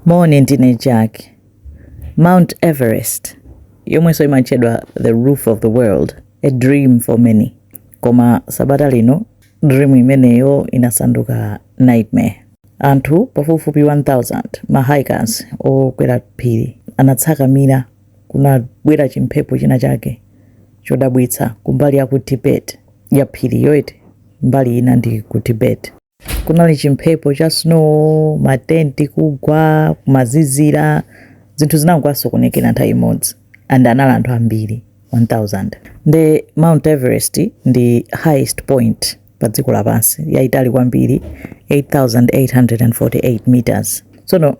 Moni, ndine Jack. Mount Everest, yomwenso imatchedwa the roof of the world, a dream for many. Koma sabata lino dream imeneyo inasanduka nightmare. Anthu pafupifupi 1000 ma hikers okwera phiri anatsakamira kunabwera chimphepo china chake chodabwitsa kumbali ya ku Tibet ya phiri yoyeti mbali ina ndi ku Tibet. Kunali chimphepo cha snow, ma tent kugwa, kumazizira, zinthu zinangowasokonekera nthawi imodzi and anali anthu ambiri 1000 nde Mount Everest ndi highest point pa dziko lapansi, yaitali kwambiri 8848 meters. Tsono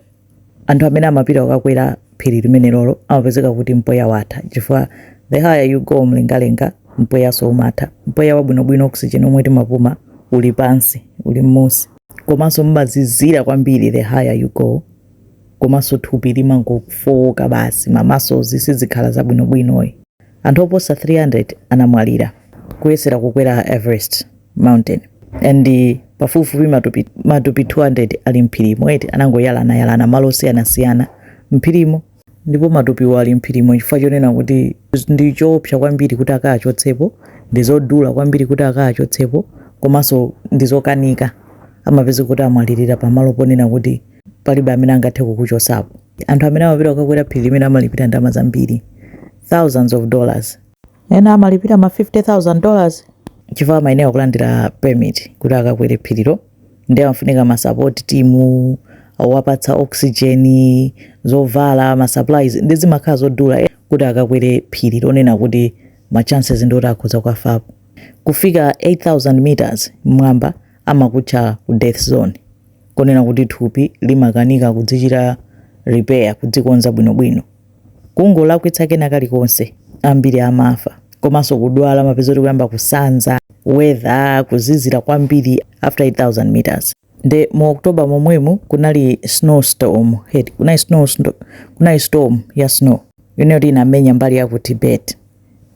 anthu amene amapita kukakwera phiri limenelolo amapezeka kuti mpweya watha chifukwa the higher you go mlengalenga mpweyanso umatha mpweya wabwinobwino oxygen omwe timapuma uli pansi uli mmusi komanso mmazizira kwambiri the higher you go komanso thupi limangofowoka basi ma muscles sizikhala zabwinobwinoyi Anthu oposa 300 anamwalira kuyesera kukwera Everest mountain and pafupifupi matupi 200 ali m'phirimo eti anangoyalana yalana malo osiyanasiyana m'phirimo ndipo matupiwo ali m'phirimo chifukwa chonena kuti ndi choopsa kwambiri kuti akawachotsepo ndi zodula kwambiri kuti akawachotsepo komanso ndi zokanika amapezeka kuti amwalirira pamalo ponena kuti palibe amene angathe kukuchosapo anthu amene amapita kukakwera phiri limene amalipira ndalama zambiri thousands of dollars ena amalipira ma 50000 dollars chifukwa amayenera kulandira permit kuti akakwere phirilo ndi amafunika ma support team awapatsa oxygen zovala masupplies ndi zimakhala zodula kuti akakwere phiri lonena kuti ma chances ndi oti akhoza kukafapo kufika 8000 meters mmwamba amakutcha ku death zone konena kuti thupi limakanika kudzichita repair, kudzikonza bwinobwino. Kungolakwitsa kena kalikonse, ambiri amafa. Komanso kudwala, amapezeka kuti kuyamba kusanza, weather, kuzizira kwambiri after 8,000 meters. Nde mu October momwemu kunali snowstorm, kunali storm ya snow, yonena kuti inamenya mbali ya ku Tibet.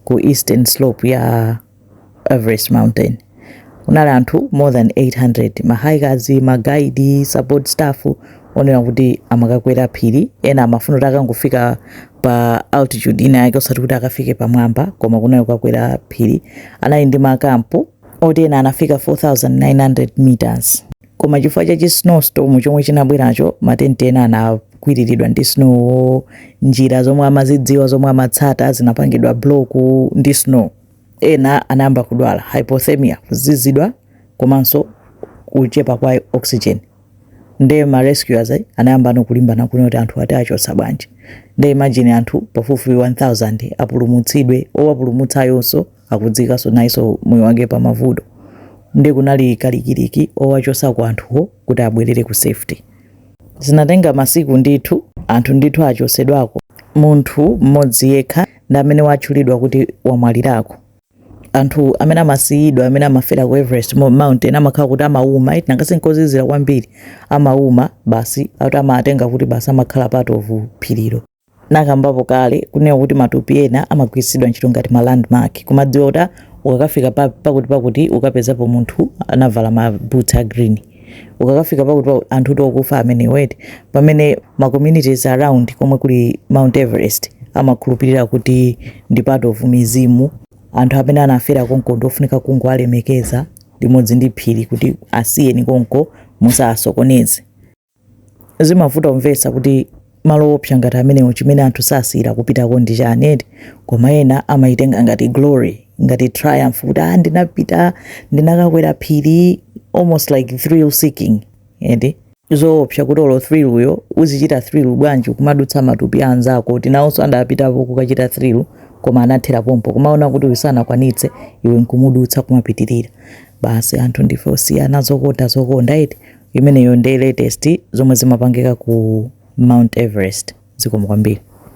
ku eastern slope ya everest mountain kunali anthu more than 800 mahikers ma guide support staff onena kuti amakakwera phiri ena amafuna kuti akangofika pa altitude ina yake osati kuti akafike pamwamba koma kunali kukakwera phiri anali ndi makampu oti ena anafika 4900 meters Koma chifukwa cha chi snow storm chomwe chinabweracho, ma tent ena anakwiriridwa ndi snow wo, njira zomwe amazidziwa zomwe amatsata zinapangidwa block ndi snow. Ena anayamba kudwala hypothermia, kuzizidwa komanso kuchepa kwa oxygen. Nde ma rescuers anayambano kulimbana kuona kuti anthuwa tiwachotsa bwanji. Nde imagine anthu pafupifupi 1000 apulumutsidwe, owapulumutsayonso. akudziikanso nayenso moyo wake pa mavuto nde kunali kalikiliki owachotsako anthuwo kuti abwerere ku safety zinatenga masiku ndithu anthu ndithu achotsedwako munthu mmodzi yekha ndi amene watchulidwa kuti wamwalirako anthu amene amasiyidwa amene amafera ku everest mountain amakhala kuti amauma eti nanga si nkozizira kwambiri amauma basi akuti amatenga kuti basi amakhala part of phirilo nakambapo kale kunena kuti matupi ena amagwiritsidwa ntchito ngati ma landmark kumadziwa kuti ah, ukakafika pa- pakuti pakuti ukapezapo munthu anavala ma boots a green ukakafika pakuti pakuti anthu kuti okufa amenewo eti pamene ma communities around komwe kuli mount everest amakhulupirira kuti ndi part of mizimu anthu amene anafera konko ndiofunika kungowalemekeza limodzi ndi phiri kuti asiyeni konko musawasokoneze Zimavuta kumvetsa kuti malo oopsa ngati amenewo chimene anthu sasiyira kupitako ndi chani eti? Koma ena amayitenga ngati glory, ngati triumph kuti aah ndinapita, ndinakakwera phiri, almost like thrill seeking eti? Zoopsa kuti olo thrill yo uzichita thrill bwanji ukumadutsa matupi a anzako oti nawonso adapitapo kukachita thrill koma anathera pompo kumaona kuti uyu sanakwanitse iwe nkumudutsa kumapitirira. Basi anthu ndife osiyana, zokonda zokonda eti? Imeneyo nde latest zomwe zimapangika ku Mount Everest. Zikomo kwambiri.